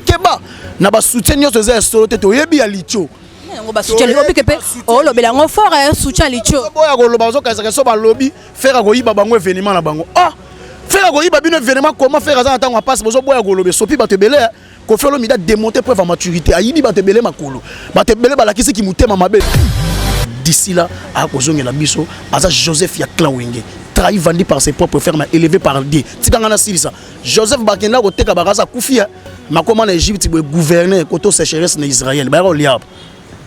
keba na ba soutien nyonso eza ya solo te toyebi ya licho yango basutien obike mpe olobela yango fort ya soutien licho boya koloba bazokanisaka so balobi fere akoyiba bango evenema na bango ah fere akoyiba bino evenema koma fere aza na ntango ya mpasi bozoboya koloba esopi bato ebele eh. kofi olomida demonte preuve ya maturité ayibi bato ebele makolo bato ebele balakisi kimotema mabe d'ici là akozongela biso aza joseph ya clan wenge trahi vendu par ses propres frères mais élevé par Dieu tika nga nasilisa Joseph bakenda koteka bakasa akufi ya makoma na Egypte boye gouverne koto sécheresse na Israël bayaka kolia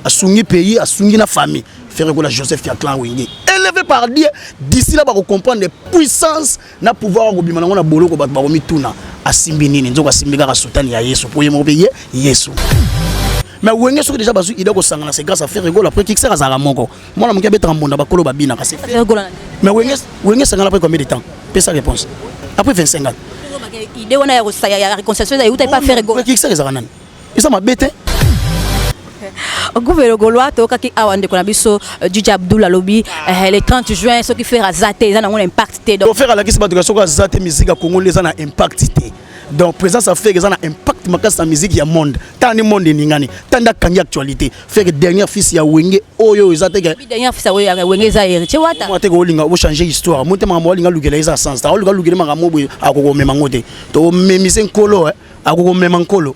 asungi pays asungi na famille ferre kola Joseph ya clan wenge élevé par Dieu d'ici là bako comprendre puissance na pouvoir akobima nango na boloko bato bakomituna asimbi nini nzoka asimbi kaka sutani ya Yesu po ye moko pe ye Yesu mais wenge soki déjà bazwi idée kosangana c'est grâce à ferre kola après kikisaka azalaka moko mwana moke abetaka mbonda bakolo babinaka se mais wenge wenge sangana après combien de temps pesa réponse après 25 ans idée wana ya kosaya ya réconciliation eza euta epa faire gola kikisa ezaka nani eza mabe te guvelo golois toyokaki awa ndeko na biso jiji euh, abdul alobi euh, le 30 juin soki fere aza te eza nango na impact te donc fere alakisi bato ya soki aza te miziki ya congo nde eza na impact te donc présence ya feke eza na impact makasi na musique ya monde tala nde monde eningani tala nde akangi actualité feke dernière fils ya wenge oyo eza te teke olinga ochange histoire mo te makambo olinga lukela eza sens ta olinga lukela makambo boye akokomema ngo te tokomemisi nkolo eh. akokomema nkolo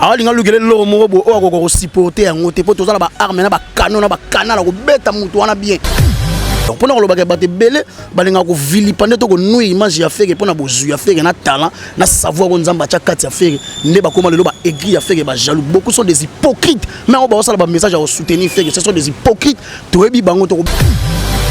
alinga lukela eloko moko boye oyo akoka kosupporte yango te mpo toza na baarme na bakano na bakanal akobeta motu wana bien donc mpona kolobaka bato ebele balingaka kovilipa nde to konui image ya feke mpona bozwi ya feke na talent na savoir oyo nzambe atya kati ya feke nde bakoma lelo baegri ya feke bajaloux beaucoup sont des hypocrites mai yango baosala bamessage ya kosoutenir feke ce sont des hypocrites toyebi bango toko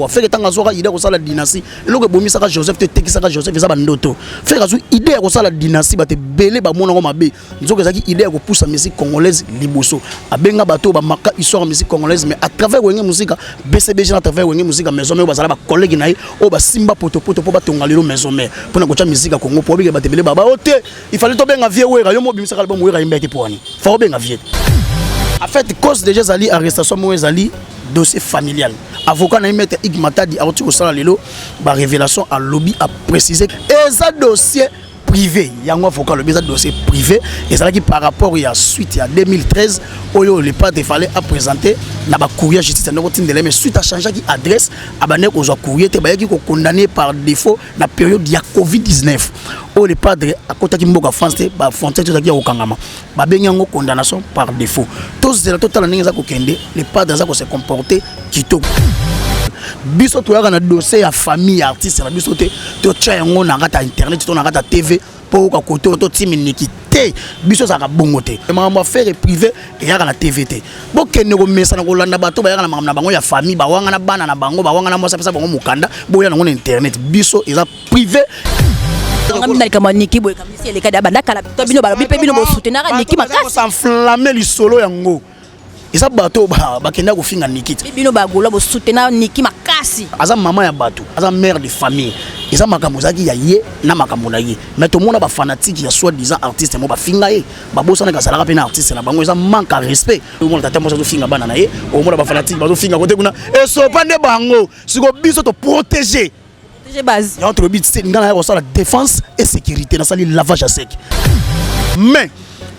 feke ntango azwaka ide akosala dynastie eloko ebomisaka joseph to etekisaka joseph eza bandoto fere azwi idée ya kosala dynastie bato ebele bamona yango mabe nzoka ezalaki idée ya kopusa musique congolaise liboso abenga bato oyo bamaka histoire ya musique congolaise mais à travers wenge mosika bcbg na travers wenge mosika maison mare oyo bazala bacollege na ye oyo basimba potopoto mpo batonga lelo maison mare mpo na kotya musique ya congo mpo obike bato ebele baba o te Il fallait to benga vieux Wera, yo mo bimisa album Wera imba te poani. Faut benga vieux. En fait, cause déjà zali arrestation mo zali dossier familial. Avocat na maître Ig Matadi a retiré ça lelo ba révélation à lobby a précisé et ça dossier privé yango avocat le bizarre dossier privé et ça qui par rapport il y a suite il y a 2013 oyo le pas fallait à présenter na ba courrier justice ndoko tindele mais suite à changer qui adresse abane ko zo courrier te ba qui ko condamné par défaut na periode ya covid-19 oyo le padre akotaki mboka france te bafrontière te ezalaki ya kokangama babengi yango condamnation par défaut tozela totala ndenge eza kokende le padre aza kose comporte kitoko biso toyaka na dossier ya famille ya artiste na biso te totya yango na kati ya internet to na kati ya tv po oka kote oyo totiminiki te biso ezalaka bongo te makambo ya fere privé eyaka na tv te bokende komesana kolanda bato bayaka na makambo na bango ya famille bawangana bana na bango bawangana mwasi apesa bango mokanda boya nango na internet biso eza privé bino balobi mpe bino bosoutenaka niki makasi enflamme lisolo yango eza bato bakenda kofinga nikiti bino bagola bosutena niki makasi aza mama ya bato aza mare de famille eza makambo ezalaki ya ye na makambo na ye mai tomona bafanatike ya soit disant artiste yango bafinga ye babosanaka azalaka mpe na artiste na bango eza manque ya respect omona tata mwasi azofinga bana na ye omona bafanatike bazofinga kote kuna esopa nde bango siko biso toprotege yango tolobi te ngai naya kosala défense et sécurité nasali lavage ya sec mais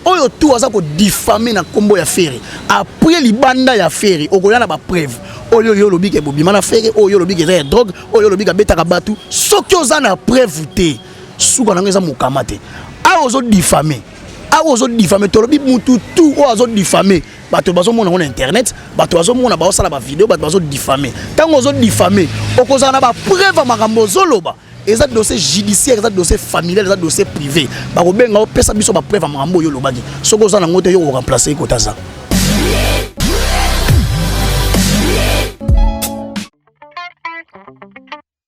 oyo tu aza kodifame na nkombo ya fere apres libanda ya fere okoya na bapreuve oyo yo olobi ke bobima na fere oyo yo olobi ke eza ya drogue oyo olobi ke abetaka bato soki oza na preuve te suka nango eza mokama te awa ozodifame awa ozodifame tolobi mutu tu oyo azodifame bato bazomona yango na internet bato bazomona baosala bavideo bato bazodifame ntango ozodifame okozala na bapreuve ya makambo ozoloba eza dossier judiciaire eza dossier familial eza dossier privé bakobenga opesa biso bapreuve ya makambo oyo olobaki soki oza nango te yo koremplace ye kotaza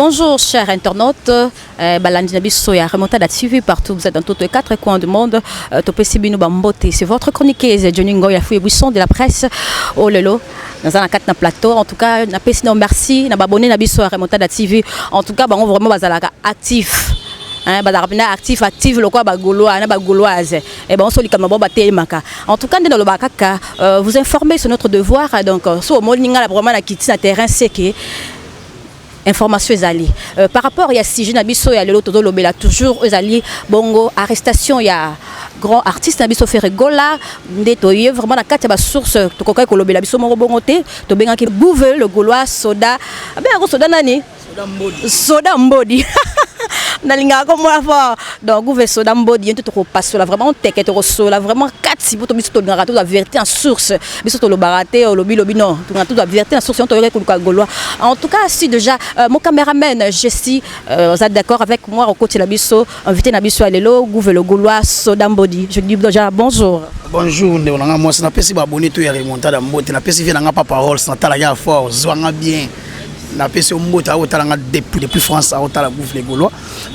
Bonjour chers internautes, euh, balandi na biso ya Remontada TV partout vous êtes dans tous les quatre coins du monde. Euh, Topesi bino bambote, c'est votre chroniqueuse Johnny Ngoya Fouye Buisson de la presse. Oh lelo, naza na kati na plateau en tout cas na pesi na merci na babone na biso ya remontada tv en tout cas bango vraiment bazalaka actif hein, bazalaka mpena actif actif lokola bagolois na bagoloise e eh, bango so likambo bango batelemaka en tout cas nde nalobaka kaka euh, vous informer sur notre devoir donc euh, so omoni ngai vraiment na kiti na terrain seke information ezali euh, par rapport ya sujet na biso ya lelo tozolobela toujours ezali bongo arrestation ya grand artiste na biso Ferre Gola nde toye vraiment na kati ya basource tokokaki kolobela biso moko bongo te tobengaki Bouve le Gaulois soda abengako soda nani soda mbodi nalingaka komona fort donc guve soda mbodi ye nte tokopasola vraiment teke tokosola vraiment kati poto biso tolingaka tozwa verité en source biso tolobaka te olobi lobi non tuna tout vérité na source toyoka kuluka golois en tout cas si déjà euh, mon cameraman je suis euh, vous êtes d'accord avec moi au côté la biso invité na biso lelo gouvelo golois soda mbodi je dis déjà bonjour bonjour ndeko na nga mwasi napesi baabonné to ya remontada mbote napesi vie na nga pa parole santala ya fort ozwa nga bien napesi yo mbote akotala nga depuis depuis france akotala gouve le gaulois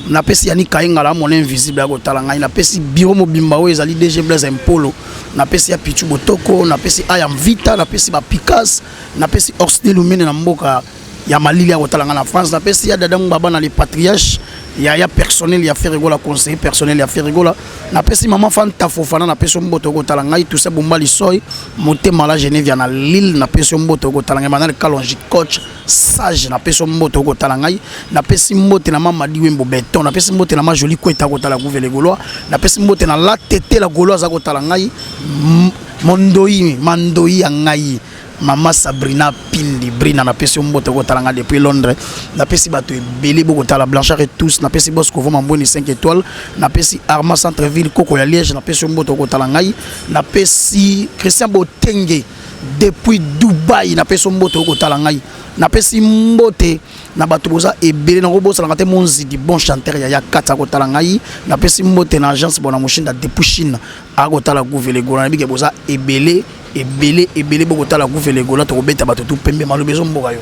napesi yani kayengala mon invisible akotala ngai napesi biro mobimba oyo ezali dg blaise impolo napesi ya pichu botoko napesi aya mvita napesi bapikas napesi orsni lumene na mboka ya malili ya kotala ngai na france napesi ya dada ngbaba na le patriarche ya ya personnel ya ferigola conseiller personnel ya ferigola napesi mama fanta fofana napesi yo mboto okotala ngai tuse bomba lisoi motema la genevia na lille napesi yo mboto okotala ngai manal kalonji coach sage na peso mbote okotala ngai na pesi mbote na mama diwembo beton na pesi mbote na ma jolie kweta kotala guvele golois na pesi mbote na la tete la golois aza kotala ngai mondoi mandoi ya ngai mama sabrina pindi brina napesi yo mbote kotalanga depuis londres napesi bato ebele bokotala blanchard et tous napesi bos kovoma mbweni 5 étoile napesi arma centre ville koko ya liège napesi yo mbote okotala ngai napesi christian botenge depuis dubai napesi yo mbote okotala ngai napesi mbote na bato boza ebele nakobosanaka te monzidi bon chanteur ya ya kati akotala ngai napesi mbote na agence bona moshinda depuis chine akotala guvelegola na bike boza ebele ebele ebele bokotala guvelegola tokobeta bato tu pembe maloba ezomboka yo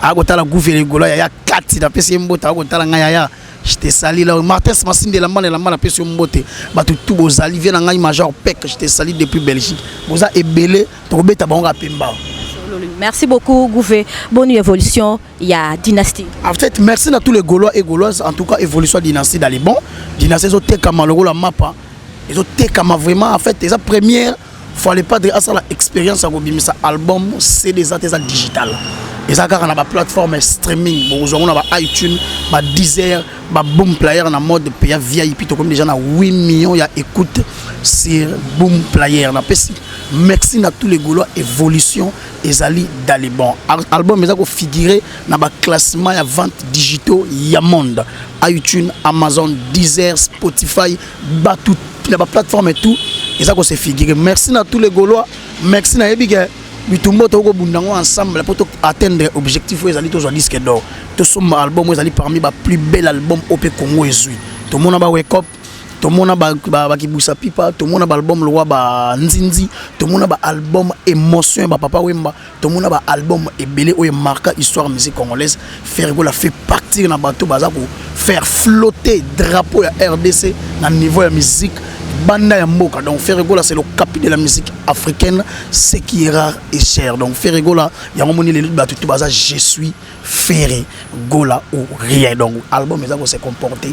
akotala guvele egola yaya kati napesi ye mbote akotala ngai yaya te sali la martins masindi elamba na elamba napesi yo mbote bato tu bozali vie na ngai major pek te sali depuis belgique boza ebele tokobeta bango kaka pemba Merci beaucoup, Gouvé. Bonne évolution, il y a dynastie. En fait, merci à tous les Gaulois et Gauloises. En tout cas, évolution dynastie dans les bons. Dynastie, ils ont été comme le mapa. Ils ont été comme vraiment, en fait, ils ont première. fale padre asala expérience ya kobimisa album cd eza te eza digital eza kaka na baplateforme streaming bokozwa yango na ba itunes ba deezer ba boom player na mode paya vip tokomi déjà na 8 millions ya écoute sur boom player napesi merci na tous les gaulois évolution ezali dalibon album eza kofigure na baclassement ya vente digitaux ya monde itunes amazon deezer spotify batu na ba plateforme et tout eza ko se figurer merci na tous les gaulois merci na yebi ke bitumba tokoki kobunda yango ensemble mpo to atteindre objectif oyo ezali tozwa disque d'or tosomba album oyo ezali parmi ba plus belle album oyo mpe congo ezwi tomona ba wekop tomona bakibwisa pipa tomona baalbum lokwa banzinzi tomona baalbum émotion ya bapapa wemba tomona ba album ebele oyo marka histoire musique congolaise ferre gola fait partir na bato baza ko faire flotter drapeau ya rdc na niveau ya musique banda ya mboka donc ferre gola c'est le capi de la musique africaine ce qui est rare et cher donc ferre gola yango moni lelo bato to baza je suis ferre gola ou rien donc album eza ko se comporter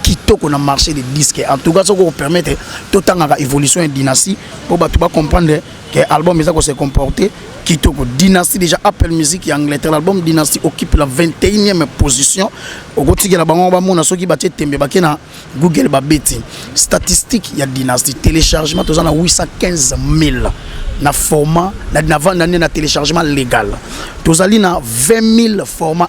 kitoko na marché des disques en tout cas soki okopermettre totangaka évolution ya dynastie mpo bato bacomprendre que album eza ko se comporter kitoko dynastie déjà Apple Music ya Angleterre l'album dynastie occupe la 21e position okotikela bango bamona soki batie tembe bake na Google babeti statistique ya dynastie téléchargement toza na 815 000 na format na, na vanda nde na téléchargement légal tozali na 20 000 format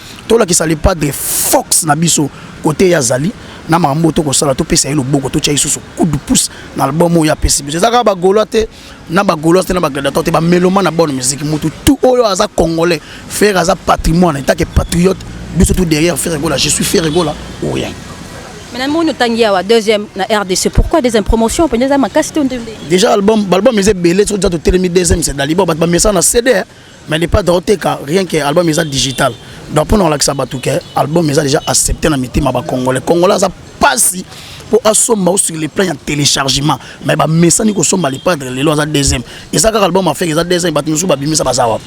tolakisa le padre fox na biso kote ye azali na makambo oyo tokosala topesa ye loboko totya lisusu coup de pouce na album oyo apesi biso eza kaka bagolois te na bagolois te na bagladiator te bameloma na bonne musique motu tu oyo aza congolais fere aza patrimoine etake patriote biso tu derrière fere gola je suis fere gola ou rien Mais la mono tangi awa deuxième na RDC. Pourquoi deuxième promotion pendeza makasi to ndende. Déjà album album eze belé so déjà to telemi deuxième c'est dalibo bat ba message na CD. mais le padre oteka rien que album eza digital donc mpona kolakisa bato ke album eza déjà accepté na mitema bacongolais congolais aza mpasi mpo asomba o sur le plan ya téléchargement mais bamesani kosomba le padre lelo aza deuxième eza kaka album afeke eza deuxième bato mosusu babimisa baza wapi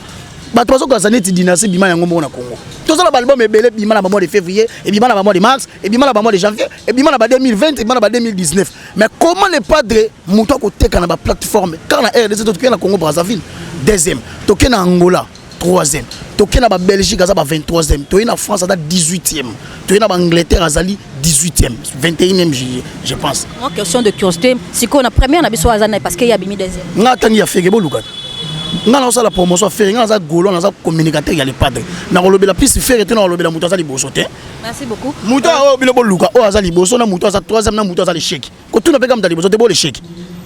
bato bazokanisa neti dynastie bima yango moko na congo tozala baalbum ebele ebima na bamois de février ebima na bamois de mars ebima na bamois de janvier ebima na ba 2020 ebima na ba 2019 Mais comment le padre mutu akoteka na ba plateforme car na RDC toke na Congo Brazzaville deuxième toke na Angola troisième toke na ba Belgique aza ba 23e toye na France aza 18e toye na ba Angleterre azali 18e 21e je pense. Moi question de curiosité sikoyo na première na biso aza na parce que ya bimi deuxième. Nga atangi ya fege boluka nga nazosala promotion fere nga naza golo naza communicateur ya le padre nakolobela plus fere te nakolobela moto aza liboso te Merci beaucoup. Muto euh, oyo bino boluka oyo aza liboso na muto aza troisième na muto aza l'échec. Kotuna pe kama muto liboso te bo l'échec.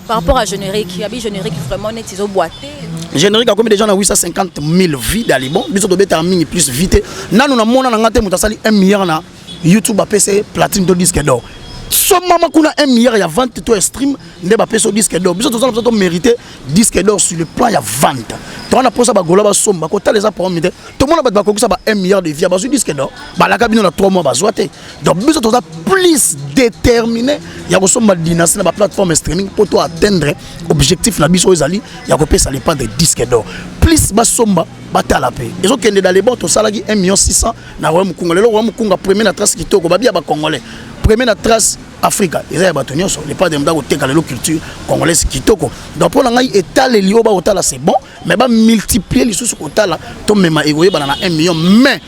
Par rapport à générique, il y a bi générique vraiment net izo boité. Générique a combien déjà na 850 000 vues d'alibon, biso to beta mingi plus vite. Nanu na mona na ngate muto asali 1 milliard na YouTube apese platine to disque d'or. somama kuna 1 milliard ya vente to ya stream nde bapesi yo disque d'or biso tozala biso to mérité disque d'or sur le plan ya vente toza na mposa bagola basomba kotala eza problème te tomona bato bakokisa ba 1 milliard de vie bazwi disque d'or balaka bino na 3 mois bazwa te donc biso toza plus déterminé ya kosomba dynastie na baplateforme streaming mpo to atteindre objectif na biso oyo ezali ya kopesa le pas de disque d'or plus basomba batala mpe ezokende dans le bon tosalaki 1 million 600 na roya mokunga lelo roya mokunga premier na trace kitoko babiya bacongolais premier na trace afrika eza ya bato nyonso le pas de moto akoteka lelo culture congolaise kitoko donc mpo na ngai etaleli oyo bakotala c'est bon mais bamultiplie lisusu kotala tomema ekoyebana na 1 million mais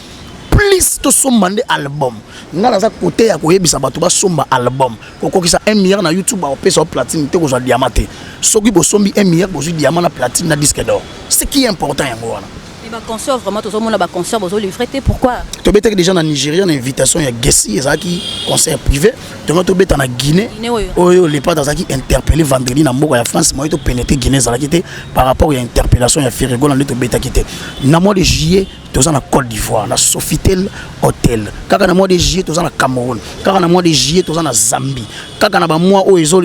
plus tosomba nde album ngai naza kote ya koyebisa bato basomba album kokokisa 1 milliard na youtube bakopesa yo platine te kozwa diama te soki bosombi 1 milliard bozwi diama na platine na disque d'or ce qui est important yango wana Mais ba concerts vraiment tozo mona ba concerts bozo livrer te pourquoi To betaki déjà na Nigeria na invitation ya Gessi ezalaki concert privé tonga to beta na Guinée Guinée oyo. oyo le pas azalaki interpellé vendredi na mboka ya France moye to pénétrer Guinée ezalaki te par rapport ya interpellation ya Ferrego na nde to betaki te na mois de juillet toza na Côte d'Ivoire na Sofitel Hotel kaka na mois de juillet toza na Cameroun kaka na mois de juillet toza na Zambie kaka na bamwa oyo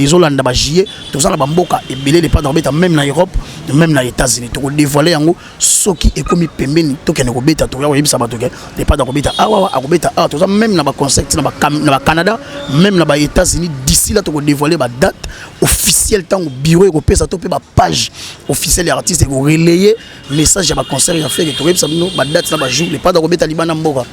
ezolanda bajuillet toza na bamboka ebele lepanda kobeta meme na europe meme na états-unis tokodevoile yango soki ekomi pembeni tokende kobeta tokoya koyebisa bato ke lepanda kobeta awawa akobeta awa toza meme na baconcept na bacanada meme na baétats-unis d'ici la tokodevoile badate officielle ntango bureau ekopesa to mpe bapage officielle ya artiste ekorelaye message ya ba concert ya fere tokoyebisa bino ba date na ba jour le pada kobeta libanda mboka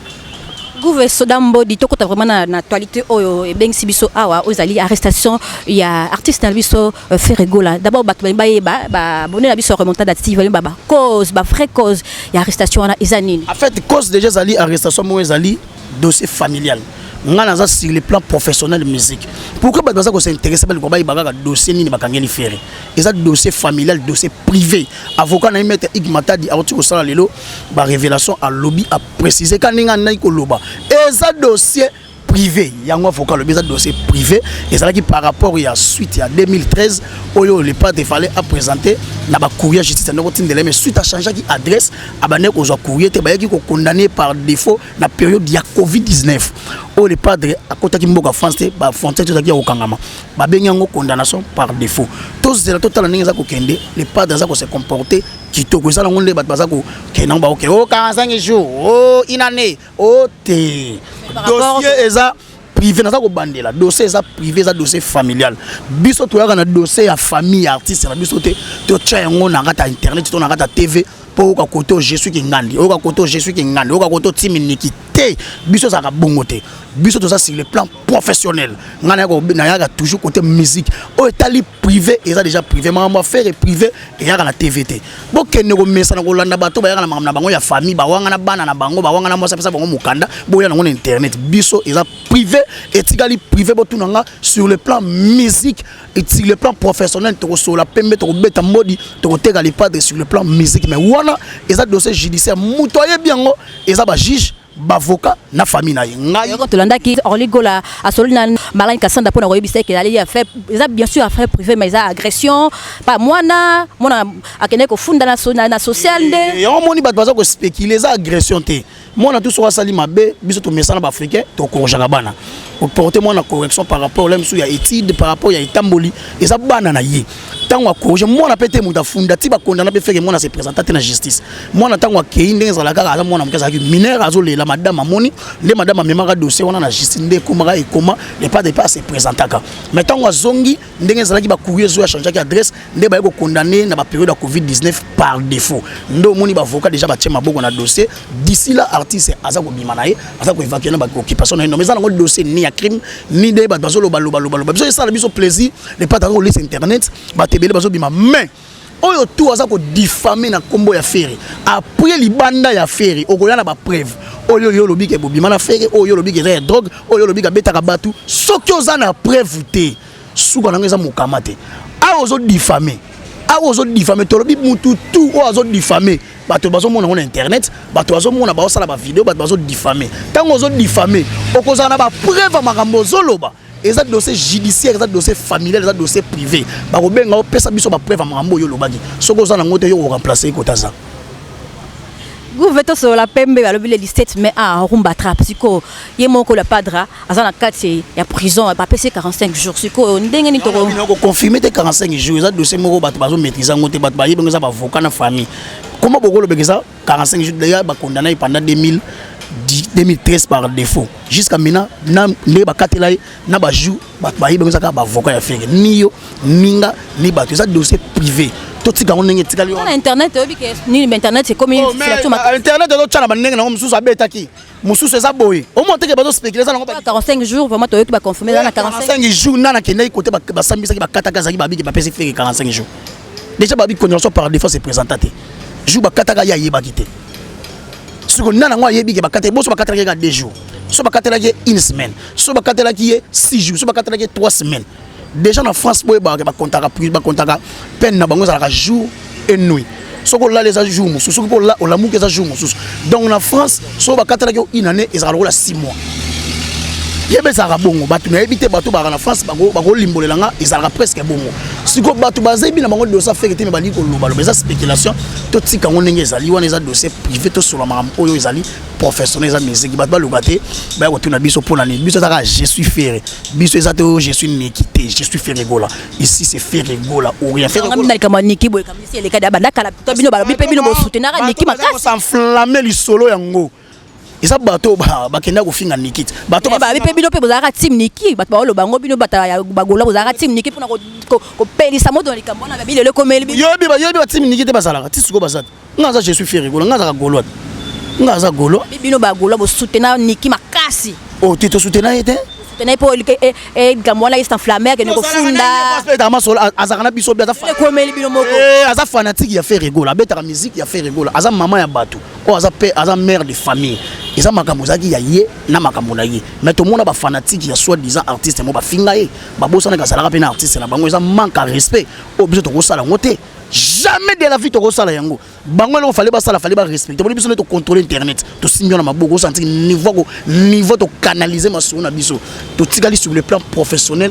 Gouve Soda Mbodi tokota vraiment na, na actualité oyo ebengisi biso awa oyo ezali arrestation ya artiste na biso euh, Ferre Gola d'abord bato balingi bayeba babone na biso ya remontada ya TV balingi ba cause ba vraie cause ya arrestation wana eza nini en fait cause déjà ezali arrestation moko ezali dossier familial ngai naza sur le plan professionnel musique pourquoi bato baza kosinteresse baliko bayeba kaka dossier nini bakangeli Ferre eza dossier familial dossier privé avocat na ye maître ig matadi auti kosala lelo barévélation alobi aprécise ka ndenge andaki koloba eza dossier privé yango avocat alobi eza dossier privé ezalaki par rapport ya suite ya 2013 oyo le pate fallait apresente na bacourrier justice andaki kotindela mais suite achangeaki adresse abandaki kozwa courrier te bayaki kokondamne par défaut na période ya covid 19 oyo le padre akotaki mboka france te bafrontière te ezalaki ya kokangama babengi yango condamnation par défaut tozela totala ndenge eza kokende le padre aza kose comporte kitoko eza nango nde bato baza kokende yango bakoke o 45 jour o une année o te dossier eza privé naza kobandela dossier eza privé eza dossier familial biso toyaka na dossier ya famille ya artiste na biso te totya yango na kati ya internet to na kati ya tv mpo oyoka kote oyo jesuis kingandi oyoka kote oyo jesuis kingandi oyoka kote otimi niki te biso ezalaka bongo te biso toza sur le plan professionnel nga na ko na yaka toujours côté musique oyo etali privé eza déjà privé makambo affaire privé eyaka na tv te bokende komesana kolanda bato bayaka na makambo na bango ya famille bawanga na bana na bango bawanga na mwasi apesa bango mokanda boya nango na internet biso eza privé etikali privé botuna nga sur le plan musique sur le plan professionnel tokosola pembe tokobeta mbodi tokoteka lipadre sur le plan musique mais wana eza dossier judiciaire moto ayebi yango eza bajuge bavoka na famille na ye ngai yoko tolandaki Orly Gola asololi na Marlène Kassanda pona koyebisa ke ali ya fait eza bien sûr affaire privée mais eza agression pa mwana mwana akende kofunda na so, na, na social nde yango moni bato baza kospekile eza agression te mwana tu soki asali mabe biso tomesana baafricain tokorojaka bana oporte mwana correction par rapport la mosusu ya étude par rapport ya etamboli eza bana na ye ntango akorige mwana mpe te moto afunda ti bakondana mpe feke mwana se présenta te na justice mwana ntango akei ndenge ezala kaka aza mwana moke azalaki minere azolela madame amoni nde madame amemaka dossier wana na justice nde ekomaka ekoma epa depa ase présentaka mais ntango azongi ndenge ezalaki bacourrier ezoya changeaki adresse nde baye kokondane na baperiode ya covid 19 par défaut nde omoni bavoka déjà batie maboko na dossier d'ici la artiste aza kobima na ye aza koevacue na baoccupation na ye nome eza nango dossier ni ya crime ni nde bato bazolobalobalobaloba biso esala biso plaisir le pata ko lisa internet ba tebele bazo bima mais oyo tout aza ko diffamer na kombo ya Ferre après libanda ya Ferre okoya na ba preuve oyo yo lobi ke bobima na Ferre oyo lobi ke ya drogue oyo lobi ka betaka batu soki oza na preuve te suka nango eza mokama te awa ozo diffamer awa ozo diffamer tolobi mutu tout oyo azo diffamer bato bazomona yango na internet bato bazomona baosala bavideo bato bazodifame ntango ozodifame okozala na bapreuve ya makambo ozoloba eza dossier judiciaire eza dossier familial eza dossier privé bakobenga opesa biso bapreuve ya makambo oyo olobaki soki oza nango te yo koremplace ye kota aza gouve tosolola pembe balobi le 17 mai a ah, rumba trap sikoyo ye moko la padra aza na kati ya prison bapesi ye 45 jours sikoyo ndenge nini tokoconfirme te 45 jours eza dossier moko bato bazomaîtrise yango te bato bayebi yango eza bavoka na famille koma bokolobeka eza 45 jours déjà ba condamné ye pendant 2000 2013 par défaut jusqu'à maintenant na ndenge bakatela ye na bajour bato bayebi bango eza kaka baavocat ya fere ni yo ni nga ni bato eza dossier privé totika yango ndenge etikali yo na internet oyebi ke nini ba internet ekomi oh, internet ezotya na bandenge nango mosusu abetaki mosusu eza boye omona teke bazo spéculer eza nango 45 jours vraiment toyoki ba confirmer eza na 45 jours nana kendaki kote basambisaki bakataka ezalaki babiki bapesi feke 45 jours déjà babi condamnation par défense epresenta te jour bakataka ye ayebaki te siko nana yango ayebi ke bakataki boso bakataki ye ka 2 jours so bakatelaki ye une semaine so bakatelaki ye 6 jours so bakatelaki ye 3 semaines Deja na France boye ba ba contaka ba contaka peine na bango ezalaka jour et nuit. Soko olali eza jour mosusu soki mpo olamuki eza jour mosusu donc na France soko bakatalaki yo une année ezalaka lokola 6 mois yeba ezalaka bongo bato nayebi te bato baka na france bakolimbolela nga ezalaka presque bongo sikoyo bato bazebi na bango dosa feke te me balingi kolobaloba eza spéculation totika yango ndenge ezali wana eza dossier privé tosola makambo oyo ezali professionnel eza musique bato baloba te baya kotuna biso mpo na nini biso ezaka je suis ferre biso eza te oyo je suis niki te je suis ferre gola ici c'est ferre gola ou rien ferre gola na kama niki boye kama si eleka da banda kala to bino balobi pe bino bo soutenaka niki makasi ko s'enflammer lisolo yango eza bato bakenda kofinga niki te bato eh, babi mpe bino mpe bozalaka team niki bato baoloba yango bino bato ya bagola bozalaka team niki mpona kopelisa moto na likambo wana babi lelo ekomeli yoyebi ba team niki te bazalaka ti sikoyo baza te Nga za je suis fier gola nga za golo wapi? Nga za golo. Bi bino ba golo bo soutenir Niki makasi. Oh tu te soutenir yete? Soutenir po elike e e gamwana est enflammé que ne ko funda. Aspect ma sola azakana biso bi aza fan. Ko meli bino moko. Eh aza fanatique ya Ferre gola abetaka musique ya Ferre gola aza maman ya batu. Oh aza père aza mère de famille. eza makambo ezalaki ya ye na makambo na ye mais tomona bafanatike ya soit disant artiste mo bafinga ye babosanaka azalaka mpe na artiste na bango eza manque ya respect oyo biso tokosala yango te jamais de la vie tokosala yango bango eloko fale basala fale barespecte boni biso nde tocontrole internet tosimbi wana maboko osanti niveau niveau tokanalize masolo na biso totikali sur le plan professionnel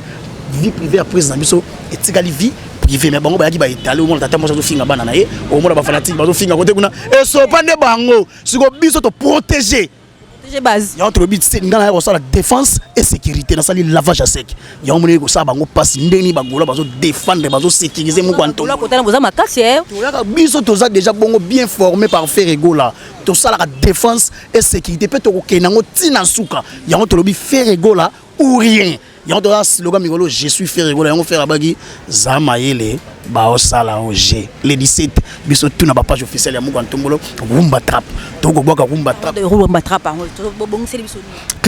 vie privée ya prise na biso etikali vie privé mais bango bayaki baetale omona tata mwasi azofinga bana na ye omona bafanatike bazofinga kote kuna esopa nde bango siko biso toprotege protéger base yango tolobi te ngai naya kosala défense et sécurité nasali lavage ya sec yango moneli kosala bango mpasi ndenge nini bagola bazodefendre bazosécurise moko antokotala boza makasi eh. toyaka biso toza déjà bongo bien formé par ferre egola tosalaka défense et sécurité mpe tokokende yango ntina nsuka yango tolobi ferre egola ou rien yango toza slogan mikolo je suis ferre gola yango ferre abaki za mayele baosala o g le 17 biso tuna bapage officielle ya moko ya ntombolo rumba trap tokobwaka rumba trapclip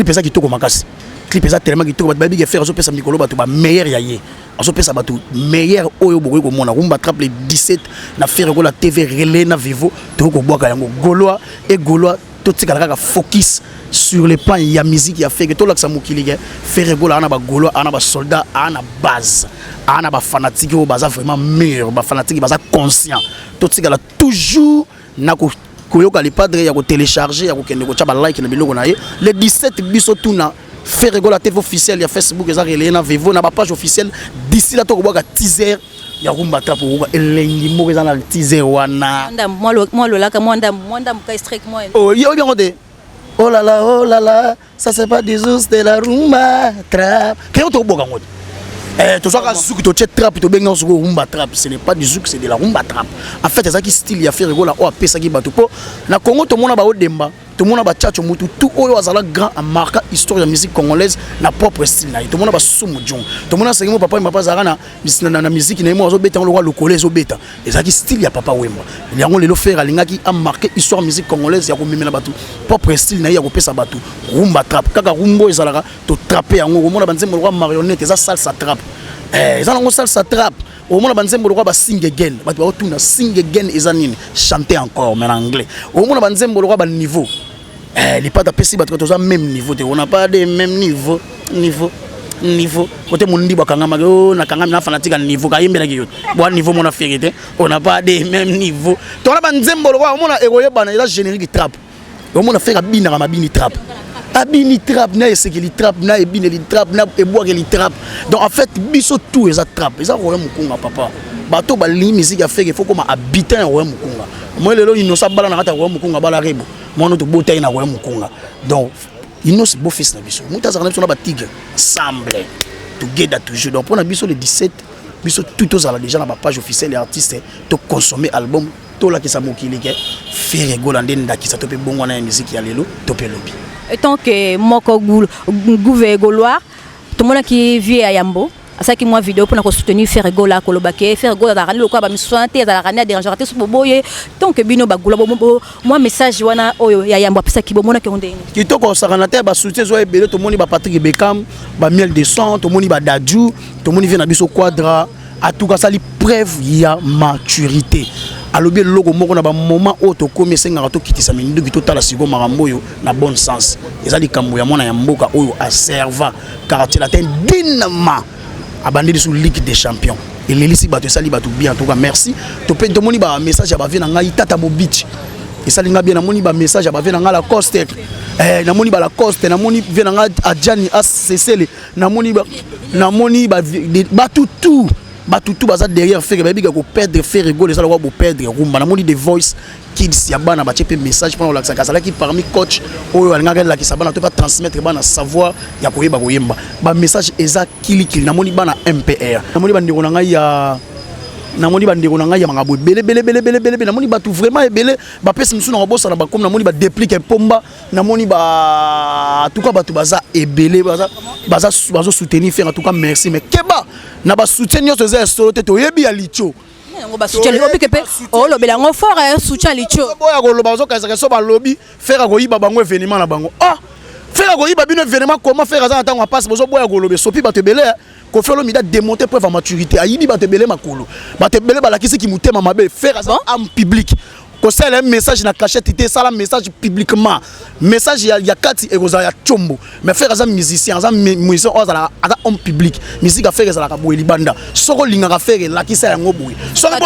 eza kitoko makasi clip eza tellement kitoko bato bayebi ke ferre azopesa mikolo bato bameilleur ya ye azopesa bato meilleur oyo bokoki komona rumba trap le 17 na ferre gola tv relais na vivo tokoki kobwaka yango golois e golois totikala kaka focus sur le plan ya musique ya feke tolakisa mokili ke fere gola ana bagolo ana basoldat ana base ana bafanatike oyo baza vraiment mur bafanatike baza conscient totikala toujours na koyoka le padre ya kotelecharge ya kokende kotya balike na biloko na ye le 17 biso tuna Ferre Gola TV officiel ya Facebook eza relayer na Vevo na ba page officielle d'ici là tokobwaka teaser ya rumba trap okoka elengi moko eza na teaser wana mwa lolaka mwa ndambo mwa ndambo ka strike mwa oyebi yango te oh là là oh là là ça c'est pas des ours de la rumba trap keyo tokoboka yango te Eh, tozwaka suki totie trap tobengi yango soko rumba trap ce n'est pas du zouk c'est de la rumba trap en fait ezalaki style ya ferre gola oyo apesaki bato mpo na congo tomona baodemba tomona ba chacho mutu tout oyo azala grand a marka histoire ya musique congolaise na propre style na ye tomona ba sumu jong tomona sengi mo papa wemba papa azalaka na na, na musique na ye mo azobeta lokola lokole ezobeta ezalaki style ya papa wemba yango lelo fere alingaki a marke histoire musique congolaise ya komemela bato propre style na ye ya kopesa bato rumba trappe kaka rumbo ezalaka totrape yango komona banzembo lokola marionnette eza salsa trappe eh, eza nango salsa trappe omona banzembo lokola ba sing again bato baotuna sing again eza nini chante encore mais na anglais omona banzembo lokola baniveau eh, lipata apesi bato toza même niveau te ona pas de même niveau niveau niveau kote mondi bakangamaki o oh, nakangami na fanatique ya niveau kayembelaki yo bwa niveau mona feri te ona pas de même niveau tona banzembo lokola omona ekoyebana eza générique trape omona feka binaka mabini trap abini trap na esekeli trap na ebineli trap na ebwakeli trap donc en fait biso tout eza trap eza roya mokunga papa bato balingi miziki ya feke fo koma habitant ya roya mokunga moi lelo inosa abala na kati ya roya mokunga abala rebo mwana tobota ye na roya mokunga donc inosi beau fils na biso moto azalaka na biso na batigre ensemble together toujours donc mpo na biso le 17 biso tout tozala déjà na bapage officielle ya artiste toconsommer album tolakisa mokili ke Ferre Gola nde ndakisa to mpe bongwana ya miziki ya lelo to mpe lobi. Etant que moko gouve golois tomonaki vie ya yambo asalaki mwa video mpona kosoutenir Ferre Gola koloba ke Ferre Gola azalaka nde lokola bamisusu wana te azalaka nde aderangeaka te so boboye tant que bino bagola mwa message wana oyo ya yambo apesaki bomonaki yango ndenge kitoko osakana te basoutien ezwa ebele tomoni ba Patrick Beckham ba miel de sang tomoni ba Dadju tomoni vie na biso quadra atuka asali preuve ya maturité alobi eloko moko na bamoma oyo tokomi esengaka tokitisa minduki totala sikoyo makambo oyo na bon sens eza likambo ya mwana ya mboka oyo aserva quartier latin dinama abandi lisu ligue des champions elelisi bato esali bato bien toka merci tope tomoni bamessage ya bavie na ngai tata mobici esali ngai bien namoni bamessage ya bavie na ngai lacoste eh, namoni balacoste namoni vie na ngai adjani asesele namoni ba namoni ba batu tout batu tout baza derrière ferre bayebi ka ko perdre ferre gol ezala kwa bo perdre rumba namoni the voice kids ya bana batie mpe message mpona kolakisaka azalaki parmi coach oyo alingaki alakisa bana to batransmettre bana savoir ya koyeba koyemba bamessage eza kilikili namoni bana mpr namoni bandeko na ngai ya namoni bandeko na ngai ya makambo ebele belebelebelebele namoni bato vraiment ebele bapesi mosusu na kobosana bakomi namoni badeplike mpomba namoni ba en tout cas bato baza ebele baza baza bazo soutenir faire en tout cas merci mais keba na ba soutien nyonso eza ya solo te toyebi ya licho yango basutya licho obike mpe olobela yango fort ya sutya licho boya koloba bazokanisaka so balobi fere akoyiba bango evenema na bango ah fere akoyiba bino evenema koma fere aza na ntango ya mpasi bozoboya koloba esopi bato ebele Koffi Olomide a démonter preuve ya maturité ayibi bato ebele makolo bato ebele balakisi kimotema mabe faire aza ame publique kosalela ye message na cachette te esala message publiquement message ya, ya kati ekozala ya combo mais frère aza musicien aza musicien oyo azalaka aza homme public musique ya frère ezalaka boye libanda soki olingaka frère elakisa yango boye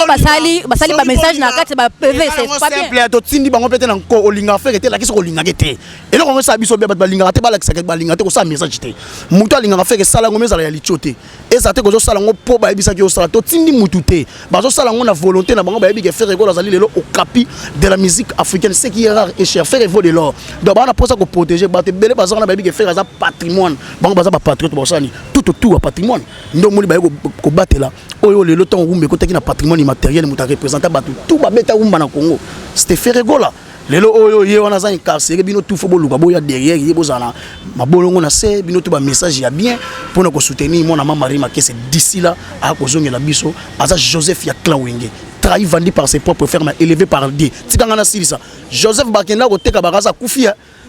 basali basali ba message na kati ba pv c'est pas bien totindi bango mpe te na nko olingaka frère te elakisa kolingaka te eloko yango esala biso bia bato balingaka te balakisaka balingaka te kosala message te moto alingaka feke esala yango ezala ya litio te ezala te kozosala yango mpo bayebisaki osala totindi motu te bazosala yango na volonté na bango bayebi ke fere ekolo azali lelo okapi de la musique africaine ce qui est rare et cher fere vaut de l'or donc bana mposa koprotege bato ebele baza wana bayebi ke fere aza patrimoine bango baza bapatriote baosani tout autour ya patrimoine nde omoni baye kobatela oyo lelo ntango wumba ekotaki na patrimoine immatériel moto arepresenta bato tout babeta wumba na congo c'était feregola lelo oyo ye wana aza incarcere bino tufo boluka boya derrière ye bozala mabolongo na se bino to bamessage ya bien mpo na kosoutenir mwana ma marie makese d'ici la akozongela biso aza joseph ya clawenge trahi vendu par ses propres ferme élevé par dieu tikanga nasilisa joseph bakenda koteka bakaza kufi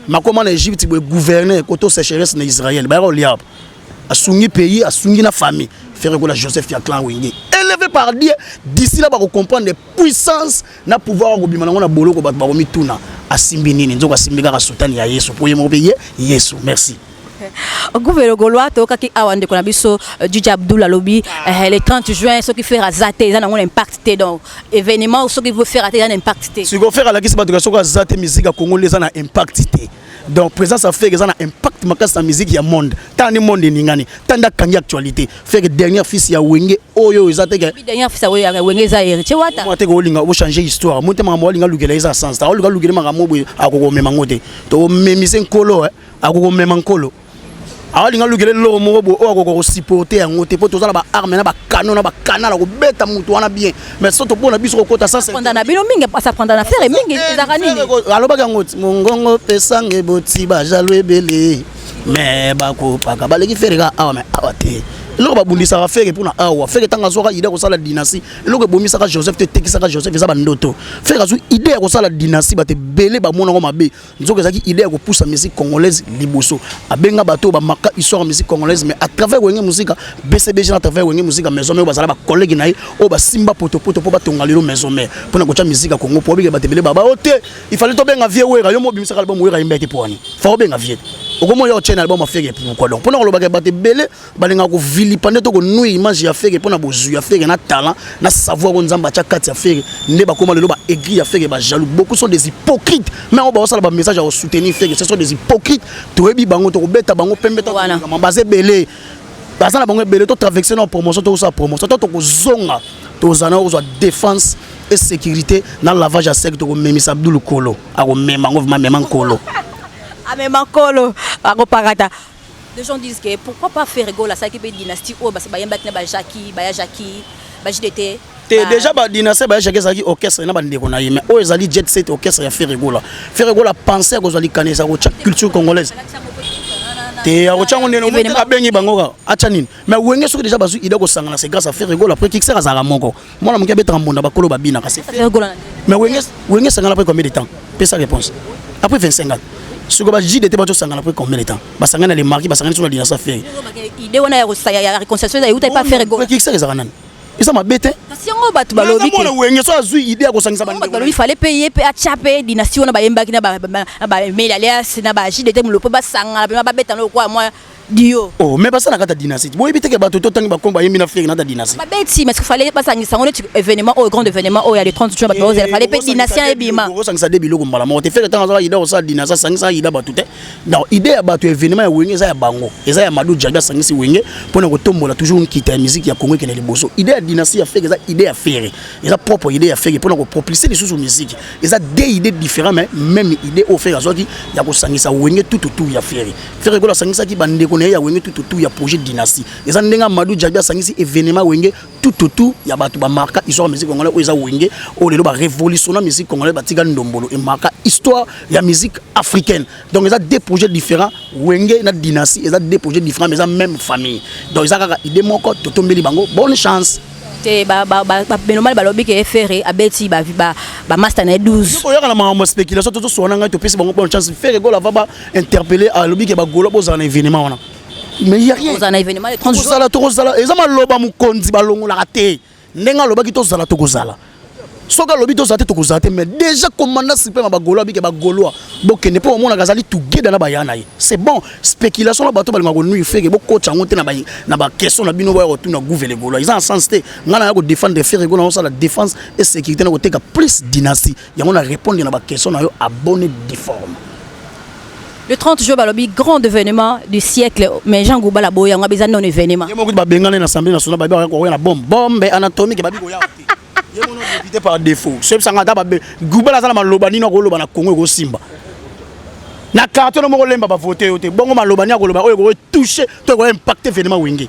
makoma na egypte boye gouverne koto sécheresse na israël bayaka kolia asungi pays asungi na famille fere kola joseph ya clan wenge élevé par dieu d'ici là bakocomprendre puissance na pouvoir akobima nango na boloko bato bakomituna asimbi nini nzoko asimbi kaka sutani ya yesu mpo ye moko mpe ye yesu merci Gouvelo Golois toyokaki awa ndeko na biso euh, Djidji Abdoul alobi euh, le 30 juin soki faire aza te eza nango na impact te donc événement soki faire ata eza na impact te sikoyo faire alakisi bato soki aza te miziki ya Congo nde eza na impact te donc présence ya feke eza na impact makasi na miziki ya monde tala nde monde eningani tala nde akangi actualité feke dernière fils ya wenge oyo eza te dernière fils ya wenge eza héritier wata mwa te kolinga ochange histoire motema makambo alinga lukela eza sans ta olinga lukela makambo boye akokomema ngo te tokomemise nkolo eh. akoki komema nkolo alinga alukela eloko moko boye oyo akoka kosupporte yango te mpo toza na baarme na bakano na bakanala kobeta moto wana bien mais so topona biso kokota sasapandana bino mingi asapanda na fere mingi eh, ezaka nini alobaki yango ti mongongo pesanga eboti bajalo ebele me bakopaka baleki fere ka awa me awa te eloko babundisaka fere mpona awa fere ntango azwaka ide ya kosala dynastie eloko ebomisaka joseph te etekisaka joseph eza bandoto fere azwi ide ya kosala dynastie bato ebele bamonango mabe nzoka ezalaki idée ya kopusa musique congolaise liboso abenga bato oyo bamaka histoire ya musique congolaise mais à travers wenge musika bcbg na travers wenge musika maison mare oyo bazala bacollege na ye oyo basimba potopoto mpo batonga lelo maison mare mpo na kotya musique ya congo mpo obike bato ebele baba o te ifale tobenga vie wera yo mobimisaka album wera yembaki mpo wani fa obenga vie okomona yo otyena album afeke pourquoi donc mpo na kolobaka bato ebele balingaka kovilipande to konuya image ya fere mpo na bozwi ya fere na talent na savoir oyo nzambe atya kati ya fere nde bakoma lelo ba aigri ya fere ba jaloux beaucoup sont des hypocrites mais yango baosala ba message ya kosoutenir fere ce sont des hypocrites toyebi bango tokobeta bango pembe taama baza ebele baza na bango ebele totraverse na promotion tokosala promotion to tokozonga tozala na kozwa défense e sécurité na lavage ya sec tokomemisa abdulu kolo akomema yango vma mema nkolo amema nkolo akopakata Les gens disent que pourquoi pas Ferre Gola asalaki mpe dynastie oyo basi bayembaki na ba Jackie, baya Jackie, ba JDT. Te ba... déjà ba dynastie baya Jackie ezalaki orchestre na bandeko na ye mais oyo ezali jet set orchestre ya Ferre Gola. Ferre Gola pensait kozwa likanisa ya kotya culture congolaise te akotya yango ndenge moko abengi bango kaka atya nini mais wenge soki déjà bazwi idée kosangana c'est grâce à Ferre Gola après Kixer azalaka moko mwana moke abetaka mbonda bakolo babinaka mais wenge esangana après combien de temps pesa réponse après 25 ans soki bajide te bato osangana après combien de temps basangani na lemarki basangani so na dinasa fere ide wana ya réconciliation euta epa fere ekikisaka ezalaka nani eza mabe te kasi yango bato balobi te wenge so azwi idée ya kosangisa bato balobi fale mpe ye mpe atya mpe dynastie wana bayembaki na bameli alias na bajide te molopo basangana mpe babetana lokola mwa Dio. Oh, mais basala kata dynastie. Boyebi te ke bato to tangi bakombo ayembi na Ferre na ta dynastie. Ba beti mais fallait basangisa ngo neti événement au grand événement au ya le 30 juin bato bazela fallait pe dynastie ebima. Ko sangisa de biloko mbala moko te Ferre tanga zala ida osala dynastie sangisa ida bato te. Donc idée ya bato événement ya wenge eza ya bango. Eza ya Madou Djaga sangisi wenge pona ko tombola toujours nkita ya musique ya Congo kene liboso. Idée ya dynastie ya Ferre eza idée ya Ferre. Eza propre idée ya Ferre pona ko propulser les sous musique. Eza deux idées différentes mais même idée au Ferre azwaki ya ko sangisa wenge tout autour ya Ferre. Ferre Gola asangisaki bandeko na ye ya wenge tout autour ya projet dynastie eza ndenge Amadou Djabi asangisi événement wenge tout autour ya bato bamarka histoire musique congolaise oyo eza wenge oyo lelo barévolutionna musique congolaise batika ndombolo emarka histoire ya musique africaine donc eza deux projets différents wenge na dynastie eza deux projets différents mais eza même famille donc eza kaka idée moko totombeli bango bonne chance te belomani balobi ke ferre abeti bamasta na ye 12 koyaka na makambo ya spéculation tozoswana ngai topesi bango bonne chance ferre gola vaba interpellé alobi ke bagolo bozala na événement wana mais ya rien ozala na événement le 30 juin tozala tokozala eza maloba mokonzi balongolaka te ndenge alobaki tozala tokozala soki alobi tozala te tokozala te mais déjà commandant supreme ya bagolo abike bagolois bokende mpo omonaka azali tugeda na baya na ye c'est bon spéculation na bato balingaka konuire feke bokotya yango te na ba- na baquestion na bino boya kotuna gouve legolois eza na sens te ngai naya kodefendre feke gona osala défense et sécurité na koteka plus dynastie yango na répondre na ba question na yo abonné difforme le 30 juin balobi grand événement du siècle mais jean gouba la boya nga beza non événement yemo kutu babengana na assemblée nationale babi bakoya koya na bombe bombe anatomique babi koya te yemo no député par défaut soyebi sanga ata babe gouba la zala maloba nino akoloba na congo ekosimba na carton moko lemba ba voter yo te bongo maloba ni akoloba oyo ekoki toucher to ekoki impacter événement wenge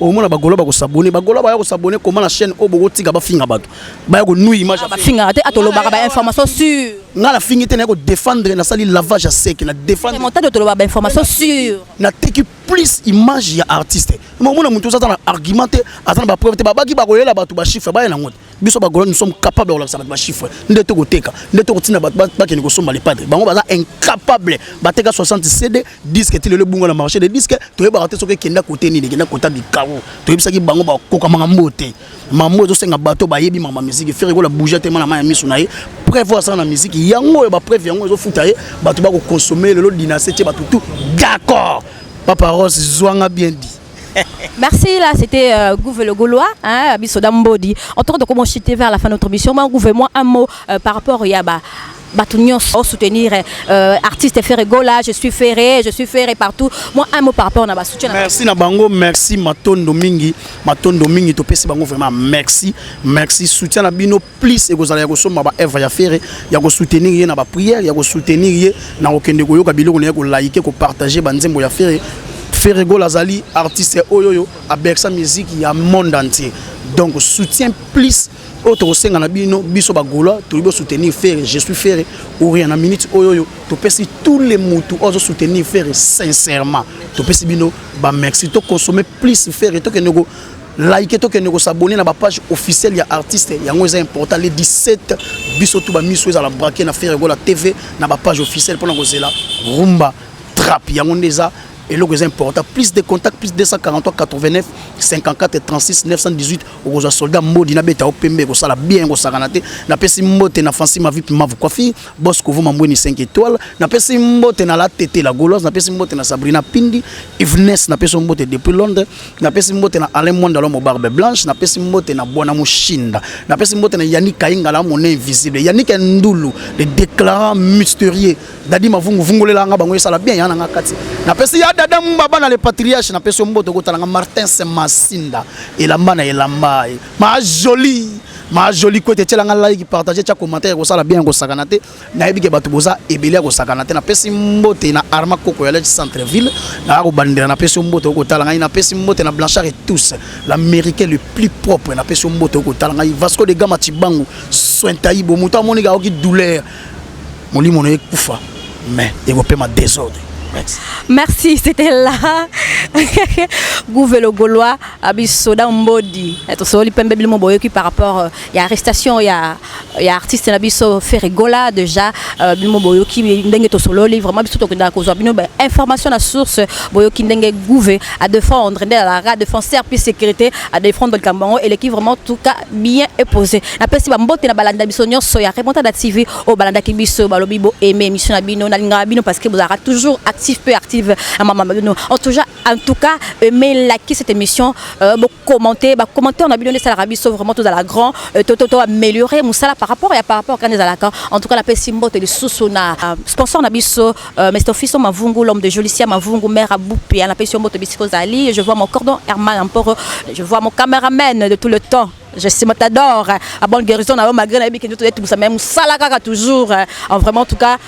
omona bagola bakosabone bagola baya kosabone koma na chaîne oyo bokotika bafinga bato baya konui image ah, bafingaka te atolobaka bainformation sur ngai nafingi te naye kodefendre nasali lavage ya seke na defendremontadio toloba bainformation sur nateki plus image ya artiste omona moto oza aza na argument te aza na bapreuve te babaki bakolela bato bachiffre baya nango te biso bagola nous sommes capable ya kolakisa bato bachiffre nde tokoteka nde tokotinda bato bakende kosomba lepate bango baza incapable bateka 60 cd disque ti lelo ebunga na marché de disque toyebaka te soki ekenda kote nini ekenda kota bikaro toyebisaki bango bakoka makambo te mambo ezosenga bato bayebi mama miziki fere kola bouge te mana mai ya miso na ye preuve asala na miziki yango oyo bapreuve yango ezofuta ye bato bakokonsome lelo dinase tie bato tout d'accord papa rose zwanga bien dit Merci, là c'était euh, Gouve le Gaulois, hein, Bisoda Mbodi. En tout cas, donc, on chuté vers la fin de notre mission. Moi, Gouve, moi, un mot euh, par rapport à Yaba. bato nyonso soutenir euh, artiste ferre gola je suis ferre je suis ferre partout moi un mot par rapport na basoutien merci na bango merci matondo mingi matondo mingi topesi bango vraiment merci merci soutien na bino plus ekozala ya kosomba ba œuvre ya Ferre ya ko soutenir ye na ba prière ya ko soutenir ye na kokende koyoka biloko na ye ko liker ko partager ba nzembo ya Ferre Ferre Gola azali artiste oyo oyo abersa musique ya monde entier donc soutien plus oyo tokosenga na bino biso bagola toyebi osoutenir ferre je suis ferre oria na minute oyo oyo topesi tous les mutu oyo azosoutenir ferre sincèrement topesi bino bamerci toconsomme plus ferre tokende Like to kende ko s'abonner na ba page officielle ya artiste yango eza important les 17 biso tout ba miso eza la braquer na Ferre Gola TV na ba page officielle pona ko zela rumba trap yango ndeza eloko eza important plus de contact plus 243 89 54 36 918 okozwa soldat mbodi nabeta yo pembe ekosala bien ekosakana te napesi mbote na fansi mavip mavu kwafi bos kovuma mbweni 5 étoile napesi mbote na la tete la gauloise napesi mbote na sabrina pindi evnes napesi yo mbote depuis londres napesi mbote na Alain Mwanda Lomo Barbe Blanche, napesi mbote na Bwana Mushinda, napesi mbote na Yannick Kaingala mon invisible, Yannick Ndulu, le déclarant mystérieux, Dadi Mavungu vungolela nga bango esala bien yana nga kati. Napesi ya Dada Mbaba na le patriarche, napesi mbote kotala nga Martin Semasinda, elamba na elamba, ma jolie ma jolie kwete tiela nga like partager tia commentaire kosala bien kosakana te nayebi ke bato boza ebele ya kosakana te napesi mbote na arma koko ya lec centre ville naya kobandela napesi yo mbote okotala ngai napesi mbote na blanchard et tous l'américain le plus propre napesi yo mbote okotala ngai vasco de gama cibangu sointaibo moto amoniki aoki douleur molimo na ye kufa mais ekopema desordre Merci. Merci, c'était là. Gouvelo Gaulois, Abisoda Mbodi. Et on se relit par rapport à euh, l'arrestation, il y a ya artiste na biso Ferre Gola déjà euh, bino boyoki ndenge tosololi vraiment biso tokendaka kozwa bino ba information na source boyoki ndenge gouve à défendre nde alara défenseur puis sécurité à défendre likambo yango eleki vraiment tout cas bien éposé napesi bambote na balanda biso nyonso ya remontada tv oyo balandaki biso balobi bo aime émission na bino nalingaka bino parce que bozalaka toujours actif peu active na mama bino en tout cas en tout cas aime laki cette émission euh, commenter ba commentaire na bino nde esalaka biso vraiment tozala grand euh, to to to améliorer mosala par rapport ya par rapport kani ezalaka en tout cas napesi mbote lisusu na euh, sponsor na biso euh, Mr Fiso Mavungu l'homme de Jolicia Mavungu maire à Boupia napesi yo mbote bisiko ozali je vois mon cordon Herman Amporo je vois mon cameraman de tout le temps je suis matador à bonne guérison na yo malgré nayebi ke nzoto etumisa mais mosala kaka toujours en vraiment en tout cas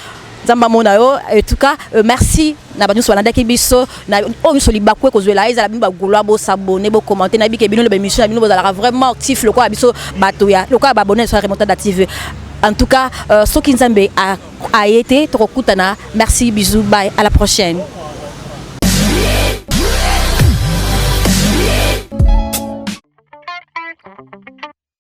nzambe amona yo etuka euh, merci na bato nyonso balandaki biso na oyo nyonso libaku ekozwela ezala bino bagoloa bosabone bokomante na bike bino loba émission na bino bozalaka vraiment actif lokola biso bato ya lokola babone na biso ya remontada tv en tout cas euh, soki nzambe aye te tokokutana merci bisous bye à la prochaine